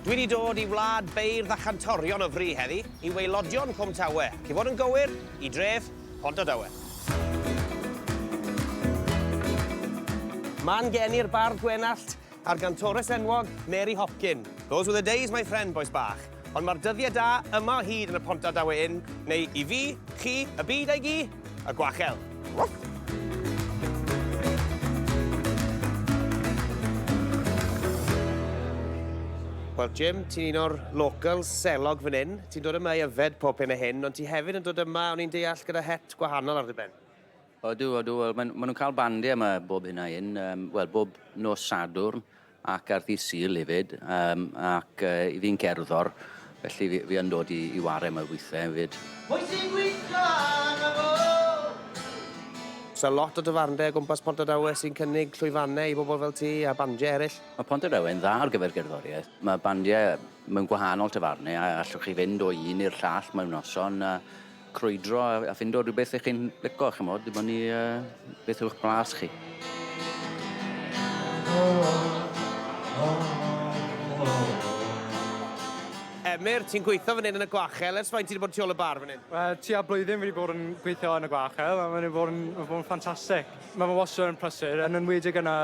Dwi wedi dod i wlad beirdd a chantorion o fri heddi, i waelodion Cwm Tawe, ac i fod yn gywir, i dref Pontardawe. Ma'n geni'r bardd Gwenallt, A'r gantores enwog, Mary Hopkin. Those were the days, my friend, bois bach. Ond mae'r dyddiau da yma o hyd yn y Pont Aberdawe Inn, neu i fi, chi, y byd a'i gi, y gwachel. Woof! Wel, Jim, ti'n un o'r local selog fan hyn. Ti'n dod yma i yfed pob hyn a hyn, ond ti hefyd yn dod yma, o'n i'n deall, gyda het gwahanol ar dy ben. Odw, odw, wel maen ma nhw'n cael bandiau yma bob hyn a hyn, um, wel bob nos Sadwrn ac ar ddydd Sul hefyd, um, ac uh, i fi'n cerddor, felly fi, fi yn dod i, i ware yma weithiau hefyd. Mwy sy'n gweithio yn y Oes yna lot o dyfarndai o gwmpas Pontardawe sy'n cynnig llwyfannau i bobl fel ti a bandiau eraill? Mae Pontardawe yn dda ar gyfer gerddoriaeth. Mae bandiau mewn gwahanol tafarnau a allwch chi fynd o un i'r llall mewn noson a crwydro a a ffindo rhywbeth 'ych chi'n lico ch'mod dibynnu yy beth yw'ch blas chi. Emyr, ti'n gweithio fan hyn yn y gwachel ers faint ti 'di bod tu ôl y bar fan hyn? Wel, tua blwyddyn fi 'di bod yn gweithio yn y gwachel a ma' 'di bod yn ma' bod yn ffantastic. Ma' fe wastad yn prysur yn enwedig yn y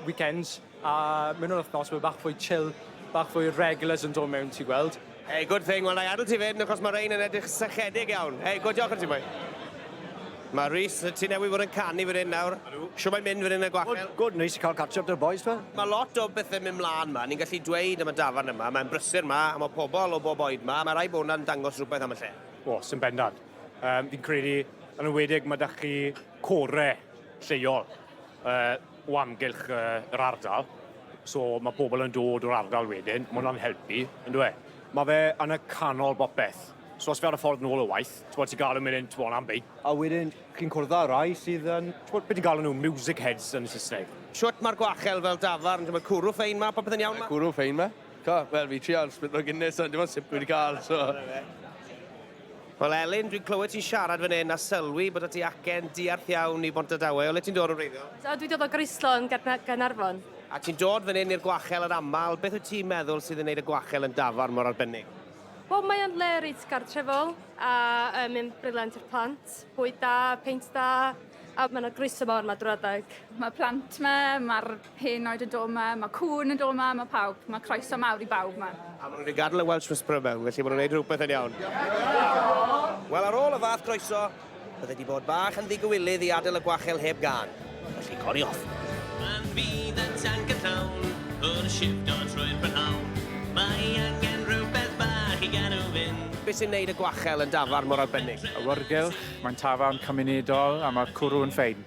weekends. A mewn yr wthnos mae bach fwy chill, bach fwy regulars yn dod mewn ti gweld. Hey, good thing. Wel, na i adl ti fyd, achos mae rhein yn edrych sychedig iawn. Hey, good diolch yn ti boi. Mae Rhys, ti newydd fod yn canu fan hyn nawr. Siw mae'n mynd fan hyn y gwachel? Good, good, neis i cael catch up dy'r boys fe. Mae lot o bethau mynd mlaen yma, ni'n gallu dweud am y dafarn yma, mae'n brysur yma, a mae pobl o bob oed yma, mae rhai bod yna'n dangos rhywbeth am y lle. O, sy'n bendant. Um, fi'n credu, yn ymwedig, mae da chi core lleol. Uh, o amgylch yy yr ardal so ma' pobol yn dod o'r ardal wedyn ma' wnna'n helpu on'd yw e? Ma' fe yn y canol bopeth so os fi ar y ffordd nôl o waith t'mod ti galw myn 'yn t'mod am beic a wedyn chi'n cwrdd â rai sydd yn t'mod be' ti'n galw nw music heads yn Sysneg. Shwt ma'r gwachel fel dafarn t'mod cwrw ffein 'ma popeth yn iawn 'ma? Cwrw ffein 'ma. T'o' wel fi trial spritlo Guinness ond dim ond sip fi 'di ca'l so. Wel Elin, dwi'n clywed ti'n siarad fan hyn a sylwi bod y ti acen diarth iawn i Bontadawe. O le ti'n dod yn wreiddiol? So, dwi'n dod o Groeslo yn Gaernarfon. A ti'n dod fan hyn i'r gwachel yn aml. Beth wyt ti'n meddwl sydd yn gwneud y gwachel yn dafarn mor arbennig? Wel, mae o'n le reit gartrefol a um, yn briliant i'r plant. Bwyd da, peint da, a mae yna groeso mawr yma drwy adeg. Mae plant yma, mae'r Hen oed yn dod 'ma, ma' cŵn yn dod 'ma, ma' pawb, ma' croeso mawr i bawb 'ma. A ma' nhw wedi gadel y Welsh Whisperer mewn, felly ma' nhw'n neud rhywbeth yn iawn. Wel ar ôl y fath groeso, bydde 'di bod bach yn ddigywilydd i adel y gwachel heb gân, felly cori off. Pan fydd y tanc yn llawn, wrth shifto trwy'r prynhawn, mae angen rhywbeth bach i gadw fynd. Be' sy'n neud y gwachel yn dafarn mor arbennig? Awyrgylch, mae'n tafarn cymunedol a ma'r cwrw yn ffein.